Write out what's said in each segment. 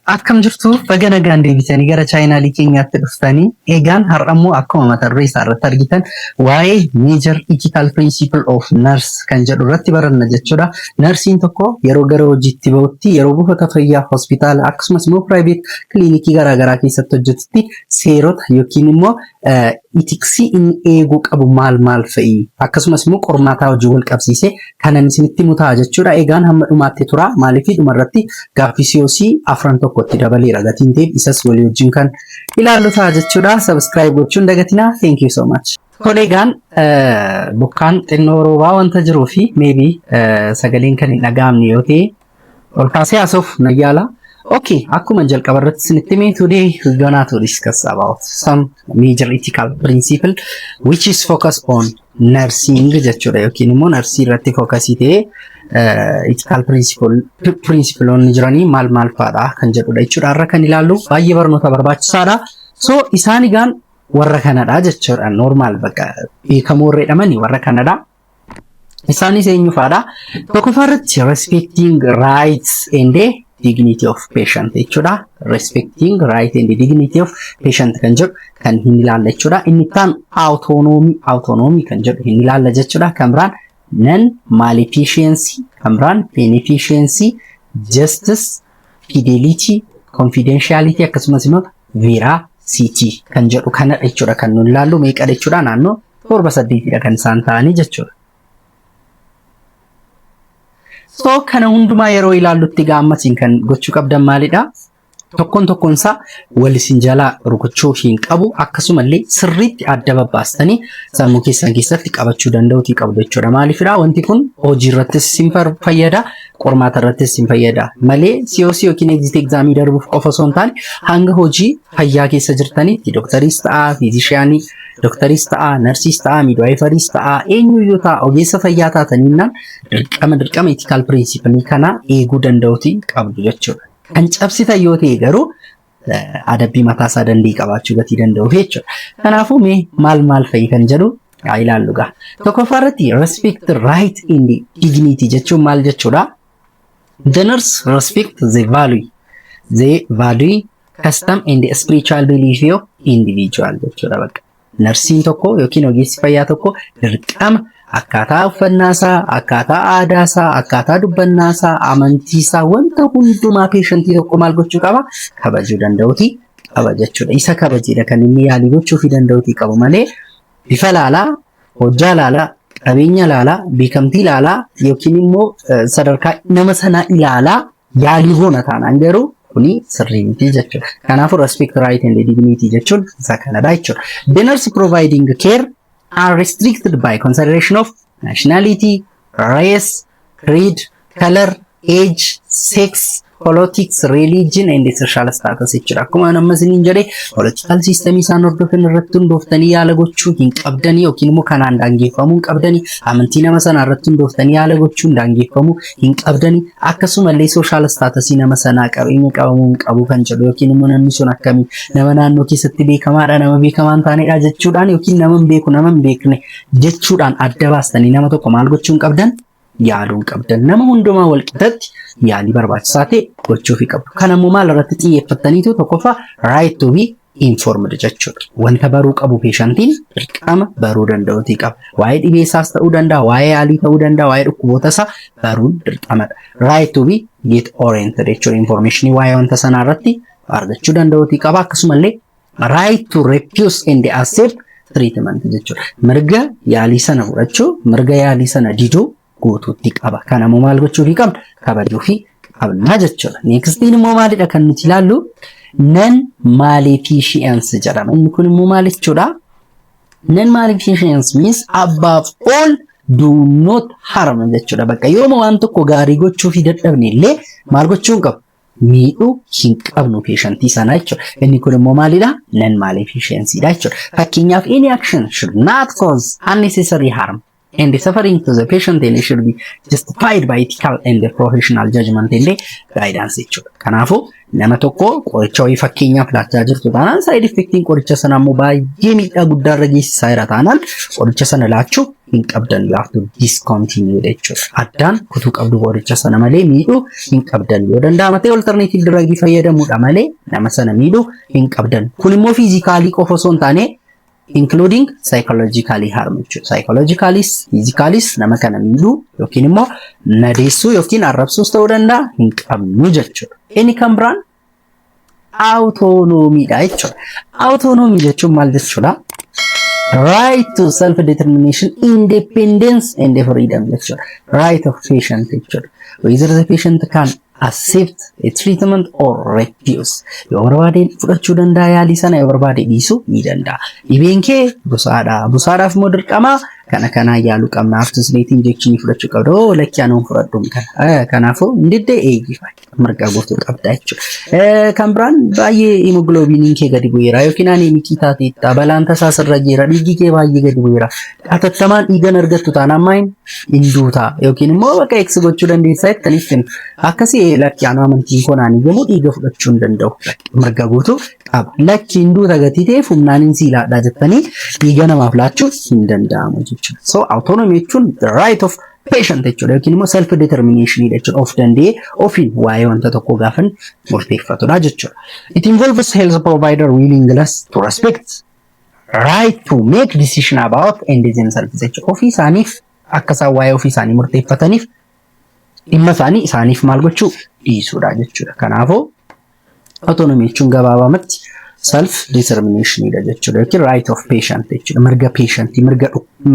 Akkam jirtu baga nagaan deebitanii gara chaayinaalii keenyaatti dhuftanii egaan har'ammoo akkuma mata duree isaa irratti argitan waa'ee major ethical principle of nurse kan jedhu irratti baranna jechuudha. Narsiin tokko yeroo gara hojiitti ba'utti yeroo buufata fayyaa hospitaala akkasumas immoo private kiliinikii garaagaraa keessatti hojjetutti seerota yookiin immoo itiksii inni eeguu qabu maal maal fa'i akkasumas immoo qormaataa hojii wal qabsiisee kanan isinitti himu ta'a jechuudha. Egaan hamma dhumaatti turaa maaliif dhumarratti gaaffii COC afran tokko itti dabaleera gatiin ta'eef isas walii wajjin kan ilaallu ta'a jechuudha. Subscribe gochuun dagatinaa. Thank you so much. Tole egaan bokkaan xinnoo roobaa wanta jiruu fi maybe sagaleen kan hin dhaga'amne yoo ta'e Ol kaasee haasa'uuf na yaala. Okay, akkuma jalqaba irratti isinitti hime, today we're gonna to discuss about some major ethical principle which is focus on nursing jechuudha yookiin immoo narsii irratti fookasii ta'ee eh, ethical principle principleonni jiranii maal maal fa'aadha kan jedhudha jechuudha irra kan ilaallu baay'ee barnoota barbaachisaadha. So isaan egaan warra kanadha jechuudha normal bakka beekamoo irra jedhamani warra kanadha. Isaanis eenyu faadha? Tokkoffaa irratti respecting rights and dignity of patient jechuudha. Respecting right and dignity of patient kan jedhu kan hin ilaalla jechuudha. Inni taan autonomy autonomy kan jedhu hin ilaalla jechuudha. Kan biraan non malefficiency kan biraan beneficiency justice fidelity, confidentiality akkasumas immoo veracity kan jedhu kanadha jechuudha kan nuti ilaallu meeqadha jechuudha naannoo torba saddeetidha kan isaan ta'anii jechuudha. So kana hundumaa yeroo ilaallutti gaammasiin kan gochuu qabdan maalidha? Tokkoon tokkoon isaa wal isin jalaa rukuchuu hin qabu akkasumallee sirriitti adda babbaastanii sammuu keessan keessatti qabachuu danda'uutii qabdu jechuudha. Maaliifidha? Wanti kun hojii irrattis isin fayyada. qormaata irrattis hin fayyada malee COC yookiin exit exaamii darbuuf qofa osoo hin taane hanga hojii fayyaa keessa jirtanitti doktariis ta'aa fiizishiyaanii doktariis ta'aa narsiis ta'aa miidwaayifariis ta'aa eenyuyyuu ta'aa ogeessa fayyaa taataniinnaan dirqama dirqama itikaal pirinsipilii kanaa eeguu danda'uuti qabdu jechuudha. Kan cabsitan yoo ta'e garuu adabbii mataa isaa danda'e qabaachuu gatii danda'u jechuudha. Kanaafuu mee maal maal fa'i kan jedhu haa ilaallu gaa. Tokkoffaa irratti respect the right and dignity jechuun maal jechuudha? The nurse respect the value, the value, custom and spiritual belief of individual jechuudha bakka. Narsiin tokko yookiin ogeessi fayyaa tokko dirqama akkaataa uffannaasaa, akkaataa aadaasaa, akkaataa dubbannaasaa, amantiisaa wanta hundumaa peeshantii tokko maal gochuu qaba? Kabajuu danda'uuti qaba jechuudha. Isa kabajeedha kan inni yaalii gochuufii danda'uuti qabu malee bifa laalaa, hojjaa laalaa, qabeenya laalaa, beekamtii laalaa yookiin immoo sadarkaa nama sanaa ilaalaa yaalii goona taanaan garuu kuni sirrii miti jechuudha. Kanaafuu respect right and dignity jechuun isa kanadha jechuudha. The nurse providing care are restricted by consideration of nationality, race, creed, color, age, sex, politics, religion and social status jechuudha. Akkuma amma isiniin jedhe political system isaan hordofan irratti hundooftanii yaala gochuu hin qabdanii yookiin immoo kanaan daangeffamuu hin qabdanii amantii nama sanaa irratti hundooftanii yaala gochuun daangeffamuu hin qabdani akkasumallee sooshaal istaatasii nama sanaa qabeenya qabamuu hin qabu kan jedhu yookiin immoo namni sun akkamii nama naannoo keessatti beekamaadha nama beekamaa hin taanedha jechuudhaan yookiin nama hin beeku nama hin beekne jechuudhaan adda baastanii nama tokko maal gochuu hin qabdan yaaluu hin qabdan nama hundumaa wal qixatti yaalii barbaachisaa ta'e gochuufii qabdu kan ammoo maal irratti xiyyeeffattaniitu tokkoffaa right to be informed jechuudha. Wanta baruu qabu peeshantiin dirqama baruu danda'uutii qaba. Waa'ee dhibee isaas ta'uu danda'a, waa'ee yaalii ta'uu danda'a, waa'ee dhukkuboota isaa baruun dirqamadha. Right to be get oriented jechuudha. Information waa'ee wanta sanaa irratti argachuu danda'uutii qaba. Akkasumallee right to refuse and accept treatment jechuudha. Mirga yaalii sana fudhachuu, mirga yaalii sana diduu guutuutti qaba. Kana immoo maal gochuufii qabna? Kabajuufii qabna jechuudha. Neekstiin immoo maalidha kan nuti ilaallu? Nan maalifiishiyansi jedhama. Inni kun immoo maal jechuudha? Nan maalifiishiyansi means abbaaf ool do not harm jechuudha. Bakka yooma waan tokko gaarii gochuufii dadhabne illee maal gochuu hin qabnu? miidhuu hin qabnu peeshantii sanaa jechuudha. Inni kun immoo maalidha? Nan maalifiishiyansiidha jechuudha. Fakkeenyaaf any action should not cause unnecessary harm. and the suffering to the patient illee should be justified by ethical and professional judgment illee guidance jechuudha. Kanaafuu nama tokko qoricha wayii fakkeenyaaf laachaa jirtu taanaan side effectiin qoricha sana ammoo baay'ee miidhaa guddaa irra geessisaa jira taanaan qoricha sana laachuu hin qabdan you have to discontinue jechuudha. Addaan kutuu qabdu qoricha sana malee miidhuu hin qabdan yoo danda'ama ta'e alternative drug fayyadamuudha malee nama sana miidhuu hin qabdan. Kun immoo fiizikaalii qofa osoo hin taane including psychologically harm jechuudha. Psychologicallyis, physicallyis nama kana miidhuu yookiin immoo madeessuu yookiin arrabsuus ta'uu danda'a hin qabnu jechuudha. Inni kan biraan autonomiidha jechuudha. Autonomy jechuun maal jechuudha? Right to self determination, independence and freedom jechuudha. Right of patient jechuudha. Whether the patient can accept a treatment or refuse yoo barbaade fudhachuu danda'a yaalii sana yoo barbaade dhiisuu ni danda'a dhibeen kee busaadha busaadhaaf immoo dirqama kana kanaa yaaluu qabna aftusneetii injekshinii fudhachuu qabda oo lakkii anuun fudhadhuun kana kanaafuu hin didde eeyyifaa mirga guutuu qabda jechuudha kan biraan baay'ee himogloobiiniin kee gadi bu'eera yookiin aneemikii taateetta balaan tasaa sirra jira dhiigii kee baay'ee gadi bu'eera hatattamaan dhiigan argattu taanaan maayin hin duuta yookiin immoo bakka eegsi gochuu dandeessaa jettanii ittiin akkasii ee lakki anuu amantiin koo naanii yommuu dhiiga fudhachuu hin danda'u mirga guutuu qaba lakki hin duuta gatii ta'eef humnaan hin siilaadhaa jettanii dhiiga namaaf laachuu hin danda'amu jechuudha so autonomy jechuun the right of patient jechuudha yookiin immoo self determination jechuudha of danda'ee ofiin waa'ee wanta tokko gaafan murteeffatudha jechuudha it involves health provider willingness to respect right to make decision about and themselves jecha ofii isaaniif akka isaan waa'ee ofii isaanii murteeffataniif dhimma isaanii isaaniif maal gochuu dhiisuudha jechuudha. Kanaafuu autonomy jechuun gabaabamatti self determination dha jechuudha yookiin right of patient jechuudha mirga patient mirga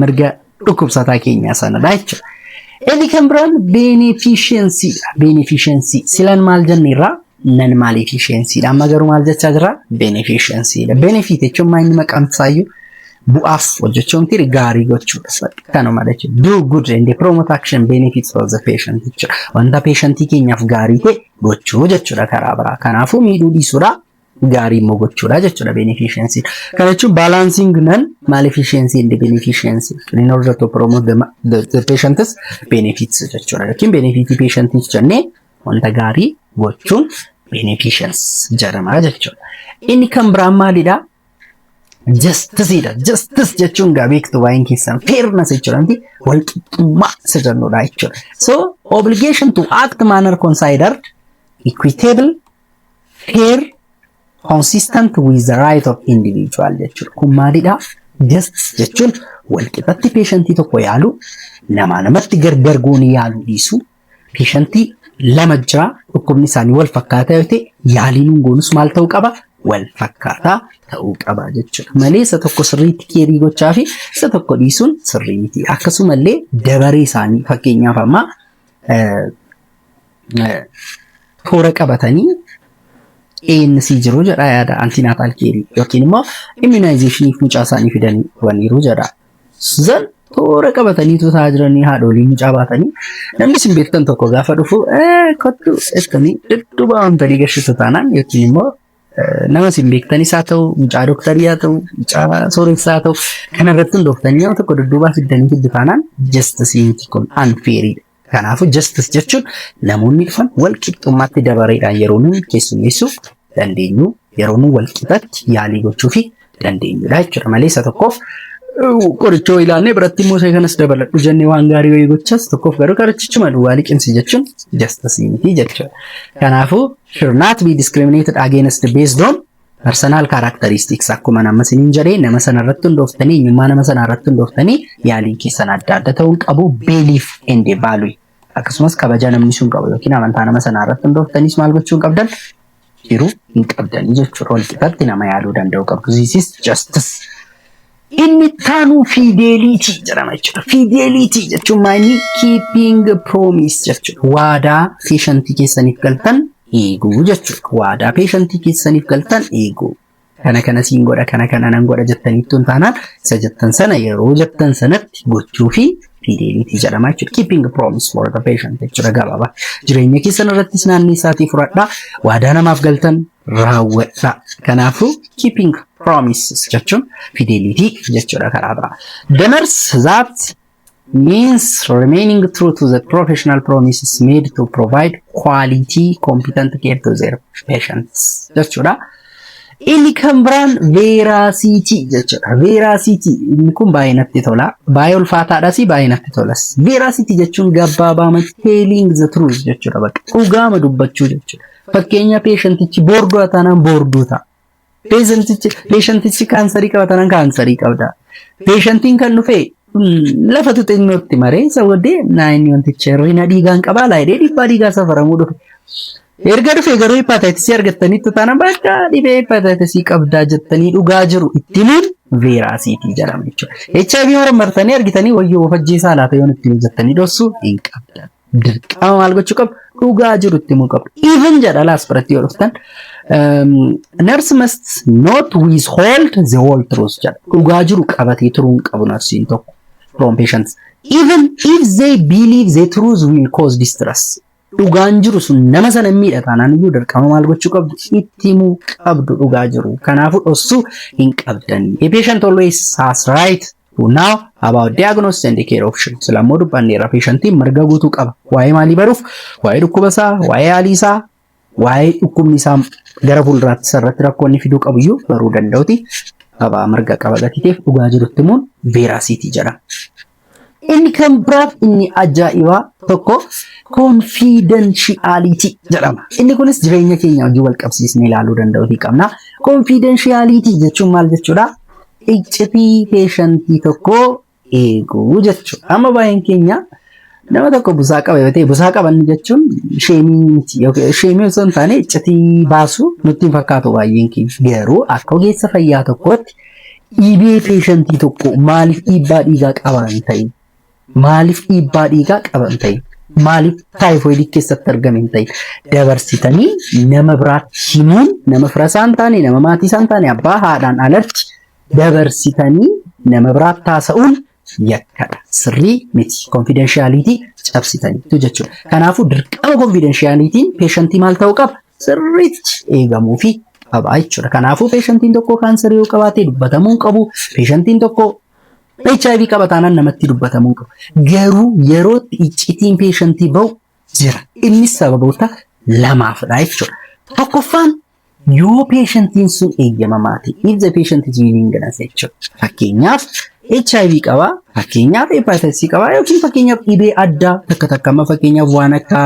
mirga dhukkubsataa keenyaa sanadha jechuudha. Inni kan biraan beneficiensiidha. Beneficiensi silan maal jenneerra nan maal efficiensiidha. Amma garuu maal jechaa jirra beneficiensiidha. Benefit jechuun maal inni maqaan isaayyuu bu'aaf hojjechuu miti gaarii gochuudha. Kanuma jechuudha. Do good and promote action benefits for the patient jechuudha. Wanta peeshantii keenyaaf gaarii ta'e gochuu jechuudha karaa biraa. Kanaafuu miidhuu dhiisuudha. gaarii immoo gochuudha jechuudha beneficiency. Kana jechuun balancing nan malefficiency and beneficiency in order to promote the, the, the patient's benefits jechuudha yookiin benefitii patientiif jennee wanta gaarii gochuun beneficiency jedhama jechuudha. Inni kan biraan maalidha? Justiceidha. Justice jechuun gaa beektu waa'een keessan fairness jechuudha miti walqixxummaa isa jennudha jechuudha. So obligation to act manner considered equitable fair consistent with the right of individual jechuudha. Kun maalidha? Justice jechuun walqixatti peeshantii tokko yaalu namaa namatti gargar goonii yaaluu dhiisu peeshantii lama jira dhukkubni isaanii wal fakkaataa yoo ta'e yaaliin hin goonus maal ta'uu qaba? Wal fakkaataa ta'uu qaba jechuudha. Malee isa tokko sirriitti keerii gochaa fi isa tokko dhiisuun sirrii miti. Akkasumallee dabaree isaanii fakkeenyaaf ammaa toora qabatanii ANC jiru jedha yaada antinaatal keerii yookiin immoo immunizationiif mucaa isaanii fidanii dhufaniiru jedha. Zan toora qabatanii tutaa jiranii haadholii mucaa baatanii namni isin beektan tokko gaafa dhufu kottu jettanii dhudhuba wantanii gashitu taanaan yookiin immoo nama isin beektanis haa ta'u mucaa dooktarii haa ta'u mucaa sooressaa haa ta'u kanarratti hundooftanii nama tokko dudduubaa fiddanii fiddu taanaan jastisii miti kun anfeeriidha. Kanaafuu justice jechuun namoonni dhufan wal qixxummaatti dabareedhaan yeroo nuyi keessummeessuuf dandeenyu yeroo nu wal qixatti yaalii gochuu fi dandeenyudha jechuudha malee isa tokkoof qorichoo ilaalnee biratti immoo isa kanas dabaladhu jennee waan gaarii wayii gochas tokkoof garuu qorichichuma duwwaa liqimsi jechuun justice miti jechuudha. Kanaafuu should not be discriminated against based on Personal characteristics akkuma nama isiniin jedhee nama sana irratti hundooftanii eenyummaa nama sanaa irratti hundooftanii yaaliin keessan adda adda ta'uun qabu belief and value akkasumas kabaja namni sun qabu yookiin amantaa nama sanaa irratti hundooftaniis maal gochuu hin qabdan jiru hin qabdanii jechuudha. Walqixatti nama yaaluu danda'u qabdu. This is justice. Inni itti aanu fiideeliitii jedhama jechuudha. Fiideeliitii jechuun maayini kiipiing piroomiis jechuudha. Waadaa peeshantii keessaniif galtan eeguu jechuudha. Waadaa peeshantii keessaniif galtan eeguu. Kana kana siin godha kana kana nan godha jettaniittu hin taanaan isa jettan sana yeroo jettan sanatti gochuu fi fiideeliitii jedhama jechuudha. Kiipiing piroomiis for the patient jechuudha gabaabaa. Jireenya keessan irrattis naannoo isaatii fudhadhaa. Waadaa namaaf galtan raawwadha. Kanaafuu keeping promises jechuun fidelity jechuudha karaa biraa. The nurse that means remaining true to the professional promises made to provide quality competent care to their patients jechuudha. Inni kan biraan veeraasiitii jechuudha. Veeraasiitii inni kun baay'ee natti tola. Baay'ee ulfaataadhas baay'ee natti tolas. Veeraasiitii jechuun gabaabaamatti telling the truth jechuudha bakka dhugaama dubbachuu jechuudha. Fakkeenya peeshantichi boorduu taanaan boorduu ta'a. Peeshantichi peeshantichi kaansarii qaba taanaan kaansarii qabda. Peeshantiin kan dhufe mm, lafa tuxinnootti maree isa booddee naayinni wanticha yeroo hina dhiigaan qabaa laayidee dhiibbaa dhiigaa safaramuu dhufe. Erga dhufe garuu hepatitis argattanitti taana bakka dhibee hepatitis qabdaa jettanii dhugaa jiru itti himuun veeraasiitii jedhama jechuudha. HIV marmartanii argitanii wayyoo of ajjeesaa laata yoon itti hojjettanii dhossuu hin qabdan. dirqama maal gochuu qabu dhugaa jiru itti himuu qabu even jedha laas biratti yoo dhuftan um, nurse must not withhold the whole truth jedha dhugaa jiru qabatee turuu hin qabu narsiin tokko from patients even if they believe the truth will cause distress dhugaan jiru sun nama sana hin miidha taanaan iyyuu dirqama maal gochuu qabdu itti himuu qabdu dhugaa jiru kanaafuu dhoksuu hin qabdan a patient always has right Now about diagnosis and care option. Sila immoo dubbanneerra peeshantiin mirga guutuu qaba. Waa'ee maalii baruuf? Waa'ee dhukkuba isaa, waa'ee haalii isaa, waa'ee dhukkubni isaa gara fuulduraatti sarratti rakkoonni fiduu qabu iyyuu baruu danda'uti. Qabaa mirga qaba gatiiteef dhugaa jirutti immoo veeraasiitii jedhama. Inni kan biraaf inni ajaa'ibaa tokko konfiidanshiyaaliitii jedhama. Inni kunis jireenya keenya wajjin wal qabsiisnee ilaaluu danda'uutii qabna. Konfiidanshiyaaliitii jechuun maal jechuudha? iccitii peeshantii tokko eeguu jechuudha. Amma baay'een keenya nama tokko busaa qaba yoo ta'e busaa qaban jechuun sheemii miti yookiin sheemii osoo hin taane iccitii baasuu nutti hin fakkaatu baay'een keenya. Garuu akka ogeessa fayyaa tokkootti dhibee peeshantii tokko maaliif dhiibbaa dhiigaa qabaan ta'e Maaliif dhiibbaa dhiigaa qaba hin ta'in? Maaliif taayifoidii keessatti argame hin ta'in? Dabarsitanii nama biraatti himuun nama fira isaa hin taane, nama maatii isaa hin taane, abbaa haadhaan alatti dabarsitanii nama biraatti haasa'uun yakkadha. Sirrii miti. Konfiidenshaaliitii cabsitaniitu jechuudha. Kanaafuu dirqama konfiidenshaaliitiin peeshantii maal ta'uu qaba? Sirriitti eegamuu fi qabaa jechuudha. Kanaafuu peeshantiin tokko kaansarii yoo qabaate dubbatamuu hin qabu. Peeshantiin tokko HIV qaba taanaan namatti dubbatamuu qaba. Garuu yerootti iccitiin peeshantii ba'u jira. Innis sababoota lamaafidha jechuudha. Tokkoffaan yoo peeshantiin sun eeyyamamaa ta'e, if the patient is willing jedhas jechuudha. Fakkeenyaaf HIV qaba, fakkeenyaaf hepatitis qaba yookiin fakkeenyaaf dhibee addaa takka takka amma fakkeenyaaf waan akka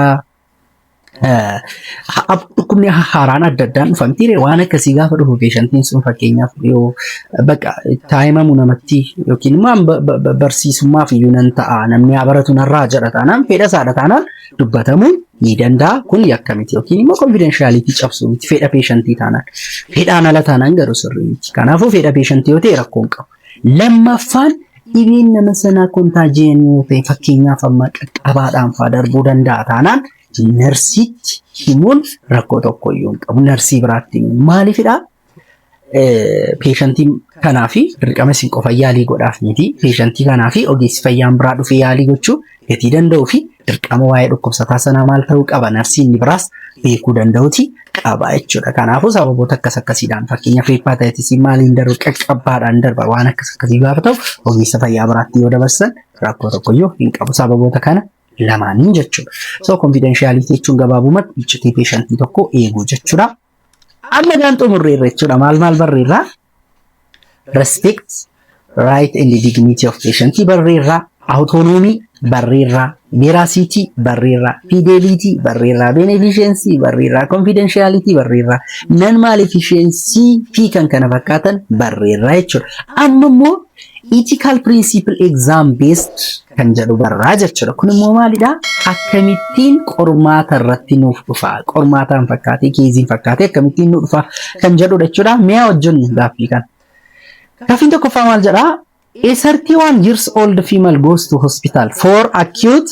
dhukkubni haaraan adda addaan dhufan ture waan akkasii gaafa dhufu peeshantiin sun fakkeenyaaf yoo bakka taa'imamu namatti yookiin immoo ba- ba- ba- barsiisummaaf iyyuu nan ta'a namni haa baratu narraa jedha taanaan fedha isaadha taanaan dubbatamuu ni danda'a kun yakka miti yookiin immoo konfidenshaaliti cabsuu miti fedha peeshantii taanaan fedhaan ala taanaan garuu sirrii miti kanaafuu fedha peeshantii yoo ta'e rakkoon qabu. Lammaffaan dhibeen nama sanaa kontaajiyan yoo ta'e fakkeenyaaf amma qaqqabaadhaan faa darbuu danda'a taanaan narsiitti himuun rakkoo tokko iyyuu hin qabu. Narsii biraatti himuun maaliifidhaa? Peeshantii kanaa fi dirqama isin qofa yaalii godhaaf miti. Peeshantii kanaa fi ogeessi fayyaan biraa dhufee yaalii gochuu gatii danda'uu fi dirqama waa'ee dhukkubsataa sanaa maal ta'uu qaba narsii inni biraas beekuu danda'uti qaba jechuudha. Kanaafuu sababoota akkas akkasiidhaan fakkeenyaaf heeppaataayitisii maaliin darba qaqqabbaadhaan darba waan akkas akkasii gaafa ta'u ogeessa fayyaa biraatti yoo dabarsan rakkoo tokkoyyuu hin qabu sababoota kana lamaaniin jechuudha. So konfiidenshaaliitii jechuun gabaabumatti iccitii peeshantii tokko eeguu jechuudha. Amma egaan xumurreerra jechuudha. Maal maal barreerra? Respect, right and dignity of patient barreerra. Autonomy barreerra. Veracity barreerra. Fidelity barreerra. Beneficiency barreerra. Confidentiality barreerra. Non-maleficiency fi kan kana fakkaatan barreerra jechuudha. Amma immoo Ethical principle exam based kan jedhu barraa jechuudha. Kun immoo maalidha? Akkamittiin qormaata irratti nuuf dhufa? Qormaataan fakkaatee, keeziin fakkaatee akkamittiin nuuf dhufa kan jedhudha jechuudha. Mi'a wajjin gaaffii kana. Gaaffiin tokkoffaa maal jedhaa? A 31 years old female goes to hospital for acute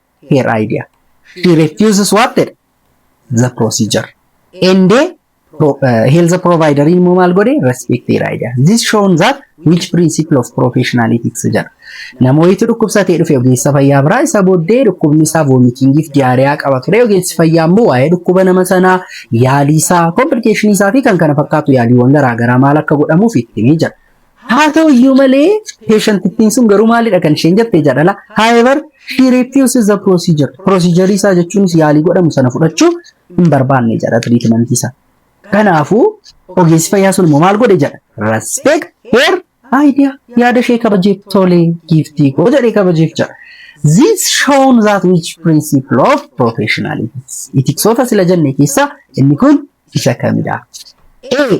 her idea. She refuses what jedhe the procedure. And uh, pro, uh, health provider immoo maal godhe respect her idea. This shown that which principle of professional ethics jedha. Namooti dhukkubsatee dhufe ogeessa fayyaa biraa isa booddee dhukkubni isaa voomitiingiif diyaariyaa qaba ture. Ogeessi fayyaa immoo waa'ee dhukkuba nama sanaa yaalii isaa, komplikeeshinii isaa fi kan kana fakkaatu yaaliiwwan garaagaraa maal akka godhamuuf itti himee jira. Haa ta'u iyyuu malee peeshantittiin sun garuu maalidha kan isheen jette jaalala. However, she refuses the procedure. Procedure isaa jechuunis yaalii godhamu sana fudhachuu hin barbaanne jedha tiriitimantii isaa. Kanaafuu ogeessi fayyaa sun immoo maal godhe jedha. Respect her idea. Yaada ishee kabajeef tolee giiftii koo jedhee kabajeef jedha. This shown that which principle of professionalism. Itiksoota sila jenne keessaa inni kun isa kamidha? A.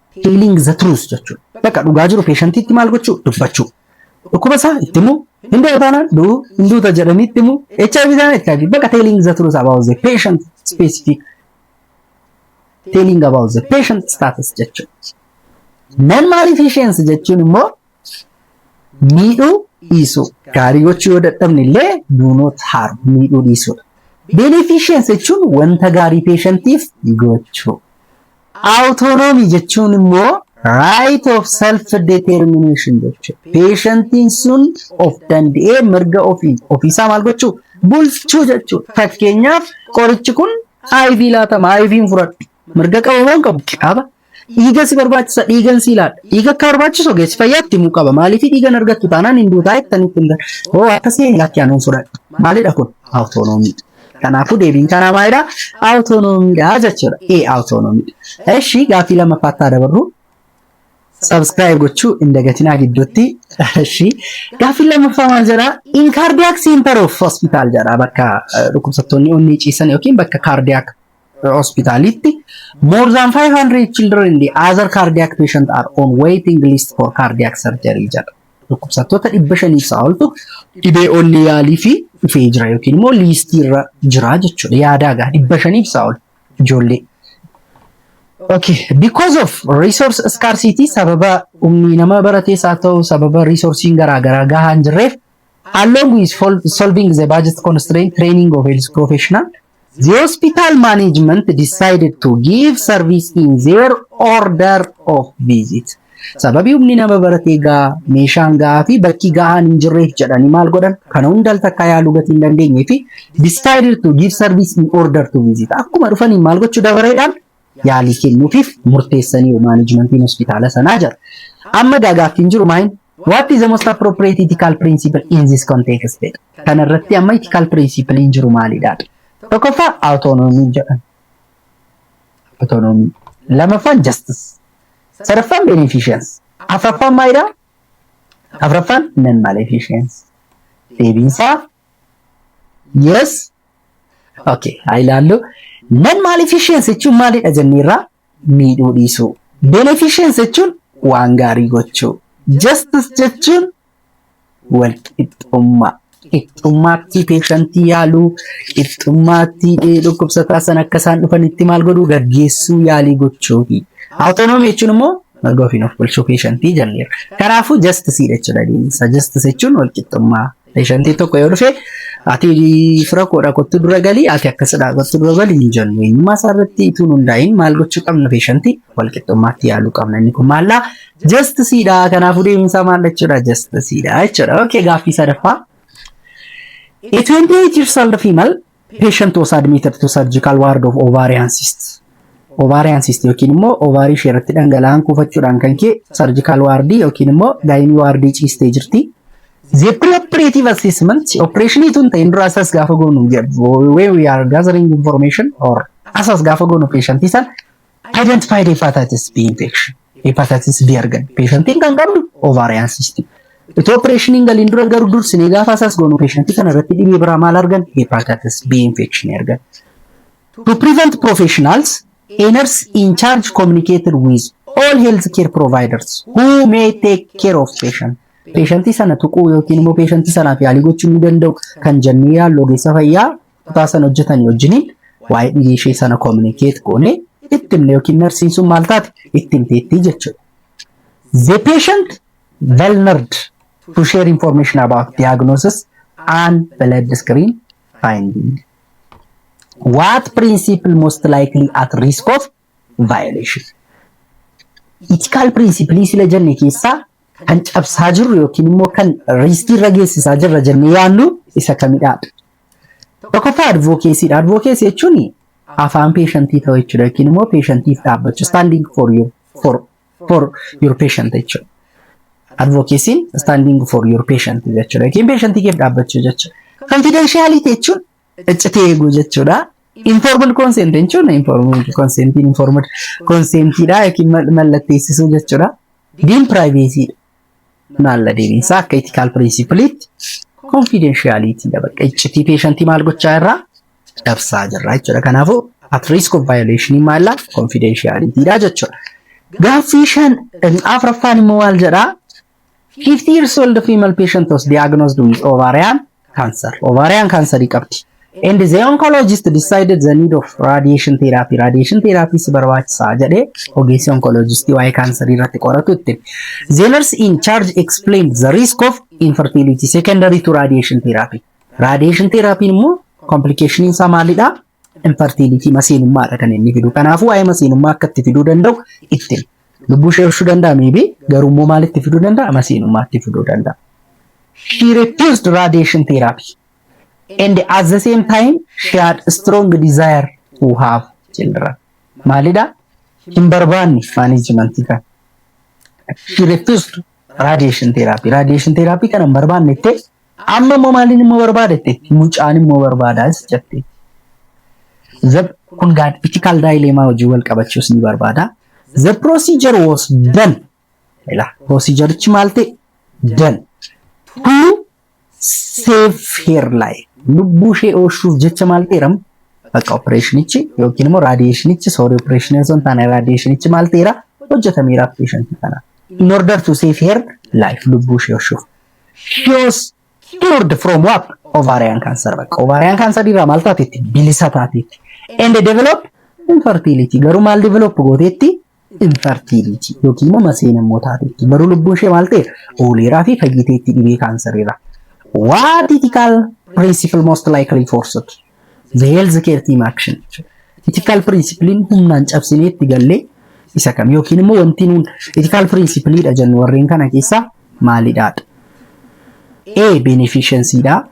telling the truth jechuudha. Bakka dhugaa jiru peeshantiitti maal gochuu dubbachuu. Dhukkuba isaa itti himuu hin du'u taanaan du'u hin duuta jedhanii itti himuu HIV taanaan itti HIV bakka telling the truth about the patient specific telling about the patient status jechuudha. Nan maaliif isheensi jechuun immoo miidhuu dhiisuu gaarii gochuu yoo dadhabne illee do not harm miidhuu dhiisuudha. Beneficence jechuun wanta gaarii peeshantiif gochuu. Autonomy jechuun immoo right of self determination jechuudha. Peeshantiin sun of danda'ee mirga ofiin ofiisaa maal gochuu bulchuu jechuudha. Fakkeenyaaf qorichi kun IV laatama IVn fudhadhu. Mirga qaba moo hin qabu? Qaba. Dhiiga si barbaachisa dhiigan si ilaala. Dhiiga akka barbaachisu ogeessi fayyaa itti himuu qaba. Maaliif dhiigan argattu taanaan hin duutaa jettanii itti himtan. Hoo akkasii hin lakkee anuun fudhadha. Maalidha kun? Awutoonoomii. Kanaafuu deebiin kanaa maalidha? Awutoonomiidha jechuudha. Ee awutoonomiidha. Eshi gaaffii lammaffaatti haa dabarru. Subscribe gochuu hin dagatinaa gidduutti. Eshi gaaffii lammaffaa maal jedha? In cardiac center of hospital jedha bakka eh, dhukkubsattoonni onnee ciisan yookiin bakka cardiac hospitalitti more than 500 children in the other cardiac patient are on waiting list for cardiac surgery jedha. Dhukkubsattoota dhibba shaniif isaa oltu dhibee onnee yaalii fi dhufee jira yookiin immoo liistii irra jira jechuudha. Yaadaa gaa dhibba shaniif isaa ol ijoollee. Okay, because of resource scarcity sababa humni nama baratees haa ta'u sababa resourcing garaagaraa gahaa hin jirreef along with solving the budget constraint training of health professional The hospital management decided to give service in their order of visit. Sababii humni nama baratee gaa meeshaan gahaa fi bakki gahaan hin jirreef jedhanii maal godhan kana hunda takka yaaluu gatii hin dandeenye fi decided to give service in order to visit. Akkuma dhufaniin maal gochuu dabareedhaan yaalii kennuufiif murteessanii maanajimentiin hospitaala sanaa jira. Amma gaagaaffiin jiru maayin What is the most appropriate ethical principle in this context? Kana irratti amma ethical principle hin jiru maalidha? Tokkoffaa autonomy jedhama. Autonomy. Lamaffaan justice. Sadaffaan beneficence. Afraffaan maalidha? Afraffaan non maleficence. Deebiinsaa yes. Okay, haa ilaallu. Non maleficence jechuun maalidha jenneerraa? miidhuu dhiisuu. Beneficence jechuun waan gaarii gochuu. Justice jechuun walqixxummaa. Qixxummaatti peeshantii yaaluu, qixxummaatti eh, dhukkubsataa sana akka isaan dhufanitti maal godhuu gaggeessuu yaalii gochuufi. Autonomy jechuun immoo mirga ofiin of bulchuu peeshantii jenneera. Kanaafuu justice dha jechuudha deebiinsa. Justice jechuun walqixxummaa. Peeshantii tokko yoo dhufe ati fira koodha kottu dura galii ati akkasidha kottu dura galii hin jennu. Eenyummaa isaa irratti ituun hundaa'in maal gochuu qabna peeshantii wal qixxummaatti yaaluu qabna. Inni kun maallaa jastisiidha. Kanaafuu deebiin isaa maal jechuudha jastisiidha jechuudha. Okay gaaffii sadaffaa. A 28 years old female Patient was admitted to surgical ward of ovarian cyst. Ovarian cyst yookiin immoo ovaarii ishee irratti dhangala'aan kuufachuudhaan kan ka'e surgical ward yookiin immoo gaayinii waardii ciistee jirti. The pre-operative assessment operation tun ta'in dura asas gaafa goonu when we are gathering information or asas gaafa goonu patient san Identified hepatitis B infection. Hepatitis B argan. Patientiin kan qabdu ovarian cyst. Itoo opereeshiniin galiin dura garuu dursinee gaafa asaas goonu patientii kana irratti dhibee biraa maal argan? Hepatitis B infection argan. To prevent professionals, a nurse in charge communicated with all health care providers who may take care of patient. Patientii sana tuquu yookiin immoo patientii sanaaf yaalii gochuu ni danda'u kan jennee yaallu ogeessa fayyaa kutaa sana hojjetanii wajjiniin waa'ee dhibee ishee sana communicate goone itti himne yookiin narsiin sun maal taate itti himteettii jechuudha. The patient vulnered to share information about diagnosis and blood screen finding. What principle most likely at risk of violation. Itikaal pirinsipilii sila jenne keessaa kan cabsaa jirru yookiin immoo kan riiskii irra geessisaa jirra jennee yaannu isa kamidhaa? Tokkoffaa advookeesiidha. Advookeesii jechuun afaan peeshantii ta'uu jechuudha yookiin immoo peeshantiif dhaabbachuu standing for your for for your patient jechuudha. Advookeesiin standing for your patient jechuudha yookiin peeshantii keef dhaabbachuu jechuudha. Confidentiality jechuun ciccitee eeguu jechuudha. Informed consent jechuun informed consent informed consentidha yookiin mal- mallatteessisuu jechuudha. Diin privacy maalla deebiinsaa akka ethical principleetti confidentiality dha bakka iccitii peeshantii maal gochaa irraa cabsaa jirra jechuudha. Kanaafuu at risk of violation maalla confidentiality dha jechuudha. Gaaffii shan afraffaan immoo maal jedhaa? 50 years old female patient was diagnosed with ovarian cancer. Ovarian cancer qabdi. And the oncologist decided the need of radiation therapy. Radiation therapy si barbaachisaa jedhee ogeessi oncologist waa'ee kaansarii irratti qoratu itti. The nurse in charge explained the risk of infertility secondary to radiation therapy. Radiation therapy immoo complication isaa maalidha? infertility masiinummaadha kan inni fidu. Kanaafuu waa'ee masiinummaa akka itti fiduu danda'u itti lubbuu ishee oolchuu danda'a miibi garuu immoo maal itti fiduu danda'a masiinummaa itti fiduu danda'a. She refused radiation therapy and at the same time she had strong desire to have children. Maalidha? Hin barbaanne maanijimantii kana. She refused radiation therapy. Radiation therapy kana hin barbaanne jettee Amma immoo maaliin immoo barbaada jetteetti mucaan immoo barbaadaas jetteetti. The, kun gaa ethical dilemma wajjin wal qabachuus ni barbaada. The procedure was done. Ila procedurichi maal ta'e? Done. To save her life. Lubbuu ishee oolchuuf jecha maal ta'eeram? Bakka opereeshinichi yookiin immoo raadiyeeshinichi soorii opereeshinii osoo hin taane raadiyeeshinichi maal ta'eera? Hojjetameera opereeshinii kana. In order to save her life lubbuu ishee oolchuuf. Shios cured from what? Ovarian cancer. Bakka ovarian cancer irraa maal taateetti? Bilisa taateetti. And develop infertility. Garuu maal develop gooteetti? Infertility. Yookiin immoo maseen immoo taateetti. Garuu lubbuun ishee maal ta'e? Ooleeraa fi fayyiteetti dhibee kaansarii irraa. What ethical principle most likely forced? The health care team action. Ethical principle'n humnaan cabsinee itti gallee isa kam yookiin immoo wanti nuun ethical principle dha jennu warreen kana keessaa maalidha? A. Beneficiency dha.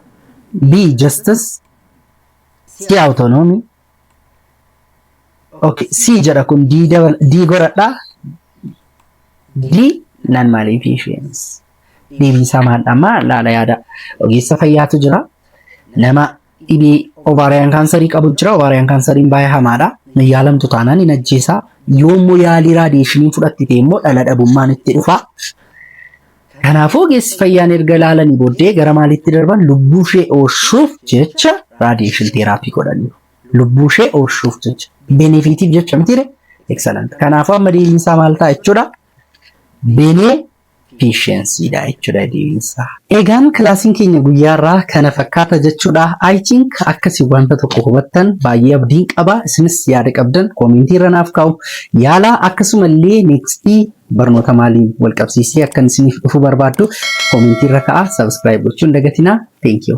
B. Justice. C. Autonomy. Okay. C jedha kun D, dabal, D goradha. D. Non maleficence. Deebiin isaa maal dha? Amma laala yaada ogeessa fayyaatu jira. Nama dhibee ovaariyaan kaansarii qabu jira. Ovaariyaan kaansariin baay'ee hamaadha. Hin yaalamtu taanaan hin ajjeesa. Yoo immoo yaalii raadiyeeshiniin fudhattite immoo dhala dhabummaan itti dhufa. Kanaafuu ogeessi fayyaan erga ilaalanii booddee gara maaliitti darban lubbuu ishee oolchuuf jecha raadiyeeshin teeraapii godhaniiru. Lubbuu ishee oolchuuf jecha. Benefiitiif jecha mitiire. Excellent. Kanaafuu amma deebiinsaa maal ta'a jechuudha? Benee efficiency dha jechuudha deebiinsaa. Egaan kilaasiin keenya guyyaarraa kana fakkaata jechuudha. I think akkasi wanta tokko hubattan baay'ee abdiin qaba. Isinis yaada qabdan koomentii irra naaf kaa'u yaala akkasumallee next barnoota maaliin wal qabsiisee akkan isiniif dhufu barbaaddu koomentii irra ka'a subscribe gochuun dagatinaa. Thank you.